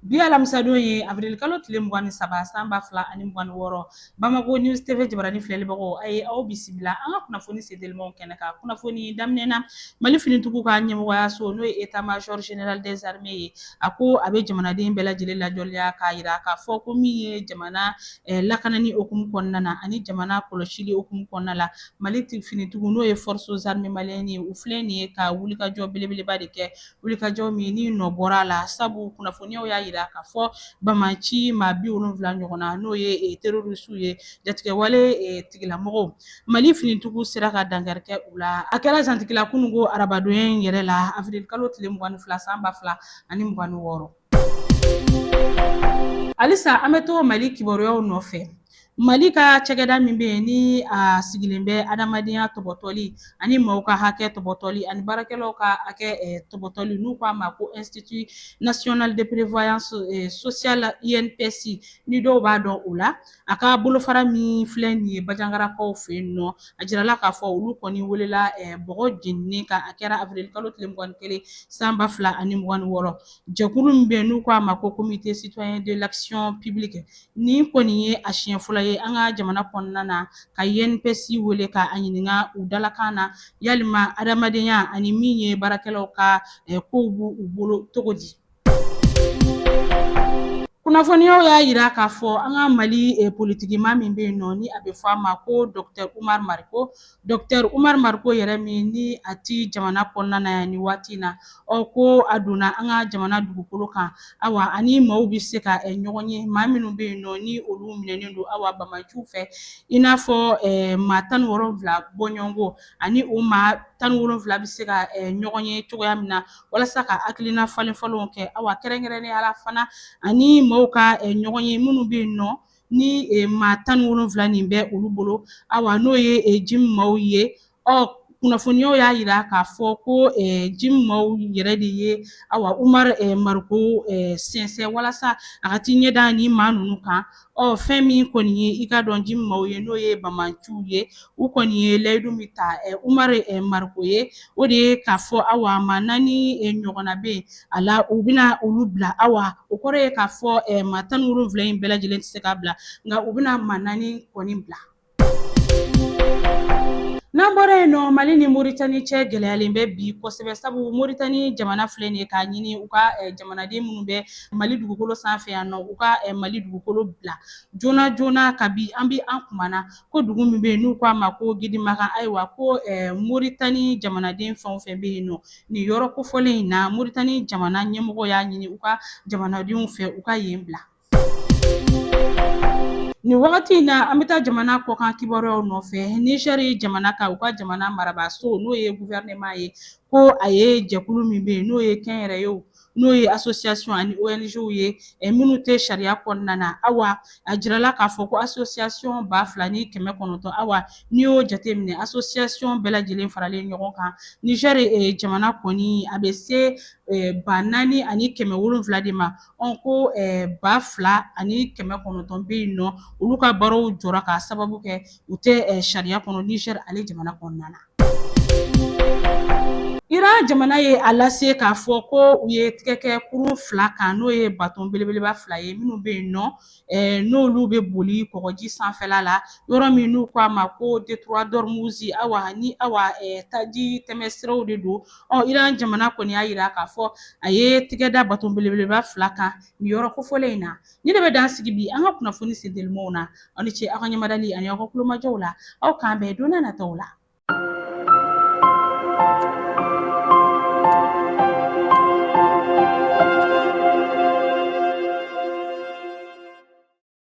Bi alamisadon ye avril kalo tile mugan ni saba san ba fila ani mugan ni wɔɔrɔ Bamako News TV jabarani filɛlibagaw a ye aw bisimila an ka kunnafoni sentelimanw kɛnɛ kan kunnafoni daminɛ na Mali finitigiw ka ɲɛmɔgɔyaso n'o ye Etat Major Général des Armées ye a ko a bɛ jamanaden bɛɛ lajɛlen ladɔnniya k'a yira k'a fɔ ko min ye jamana eh, lakanani okumu kɔnɔna na ani jamana kɔlɔsili okumu kɔnɔna la Mali finitigiw n'o ye Forces Armées Maliennes ye u filɛ nin ye ka wulikajɔ belebeleba de kɛ wulikajɔ min ni nɔ bɔra a la sabu kunnafoniyaw y'a yira k'a fɔ bamanci maa bi wolonfila ɲɔgɔn na n'o ye eh, terorisiw ye jatigɛwale eh, tigilamɔgɔw mali finintigiw sera ka dankari kɛ u la a kɛra zantigila kununko arabadonya in yɛrɛ la avril kalo tile mugan ni fila san ba fila ani mugan ni wɔɔrɔ halisa an bɛ to mali kibaruyaw nɔfɛ mali ka cakɛda min bɛ yen ni a sigilen bɛ adamadenya tɔbɔtɔli ani maaw ka hakɛ tɔbɔtɔli ani baarakɛlaw ka hakɛ tɔbɔtɔli n'u k'a ma ko institut national de prévoyance sociale INPS ni dɔw b'a dɔn o la a ka bolofara min filɛ nin ye bajangarakaw fɛ yen nɔ a jirala k'a fɔ olu kɔni welela bɔgɔ jeninen kan a kɛra avril kalo tile mugan ni kelen san ba fila ani mugan ni wɔɔrɔ jɛkulu min bɛ yen n'u k'a ma ko comité citoyen de l'action publique nin kɔni ye a siɲɛ fɔlɔ ye an ka jamana kɔnɔna na ka INPS wele ka a ɲininka u dalakan na yalima adamadenya ani min ye baarakɛlaw ka eh, kow b'u u bolo cogo di kunnafoniyaw y'a yira k'a fɔ an ka mali eh, politikimaa min bɛ yen nɔ ni a bɛ fɔ a ma ko dɔktɛr umar mariko Dɔkutɛri Umaru Mariko yɛrɛ min ni a ti jamana kɔnɔna na yan ni waati in na, ɔ ko a donna an ka jamana dugukolo kan, awa ani maaw bɛ se ka ɲɔgɔn ye, maa minnu bɛ yen nɔ ni olu minɛnen don awa bamanciw fɛ, i n'a fɔ maa tan ni wolonfila bɔɲɔgɔnko ani o maa tan ni wolonfila bɛ se ka ɲɔgɔn ye cogoya min na walasa ka hakilina falenfalenw kɛ, awa kɛrɛnkɛrɛnnenya la fana ani maaw ka ɲɔgɔn ye minnu bɛ yen nɔ ni maa tan ni wolonfila nin bɛ olu bolo awa n'o ye JNIM maaw ye ɔ kunnafoniyaw y'a yira k'a fɔ ko JNIM maaw yɛrɛ de ye awa umar mariko sɛnsɛn walasa a ka t'i ɲɛ da ni maa ninnu kan ɔ fɛn min kɔni ye i k'a dɔn JNIM maaw ye n'o ye bamanciw ye u kɔni ye layidu min ta umar mariko ye o de ye k'a fɔ awa maa naani ɲɔgɔnna bɛ yen a la u bɛna olu bila awa o kɔrɔ ye k'a fɔ eh, maa tan ni wolonfila in bɛɛ lajɛlen tɛ se ka bila nka u bɛna maa naani kɔni bila n'an bɔra yen nɔ mali ni moritani cɛ gɛlɛyalen bɛ bi kosɛbɛ sabu moritani jamana filɛ nin ye k'a ɲini u ka eh, jamanaden minnu bɛ mali dugukolo sanfɛ yan nɔ u ka eh, mali dugukolo bila joona joona kabi an bi an kumana ko dugu min bɛ yen n'u k'a ma ko gidimakan ayiwa ko eh, moritani jamanaden fɛn o fɛn bɛ yen nɔ nin yɔrɔ kofɔlen in na moritani jamana ɲɛmɔgɔ y'a ɲini u ka jamanadenw fɛ u ka yen bila nin wagati in na an bɛ taa jamana kɔkan kibaruyaw nɔfɛ nizɛri jamana ka u ka jamana marabaaso n'o ye guvɛrɛnɛman ye ko a ye jɛkulu min bɛ yen n'o ye kɛnyɛrɛyew n'o ye association ani ONGw ye eh, minnu tɛ sariya kɔnɔna na awa a jirala k'a fɔ ko association ba fila ni kɛmɛ kɔnɔntɔn awa n'i y'o jateminɛ association bɛɛ lajɛlen faralen ɲɔgɔn kan Niger eh, jamana kɔni a bɛ se eh, ba naani ani kɛmɛ wolonwula de ma ɔn ko ba fila ani kɛmɛ kɔnɔntɔn bɛ yen nɔ olu ka baaraw jɔra k'a sababu kɛ u tɛ sariya kɔnɔ Niger ale jamana kɔnɔna na Iran jamana ye a lase k'a fɔ ko u ye tigɛ kɛ kurun fila kan n'o ye baton belebeleba fila ye minnu bɛ yen nɔ eh, n'olu bɛ boli kɔgɔji sanfɛla la yɔrɔ min n'u k'a ma ko détroit d'Ormuz awa ni awa eh, taji tɛmɛsiraw de don ɔ Iran jamana kɔni y'a jira k'a fɔ a ye tigɛ da baton belebeleba fila kan nin yɔrɔ kofɔlen in na Nin de bɛ dan sigi bi an ka kunnafoni sentelimanw na aw ni ce aw ka ɲamadali ani aw ka kulomajɔw la aw k'an bɛn don nataw la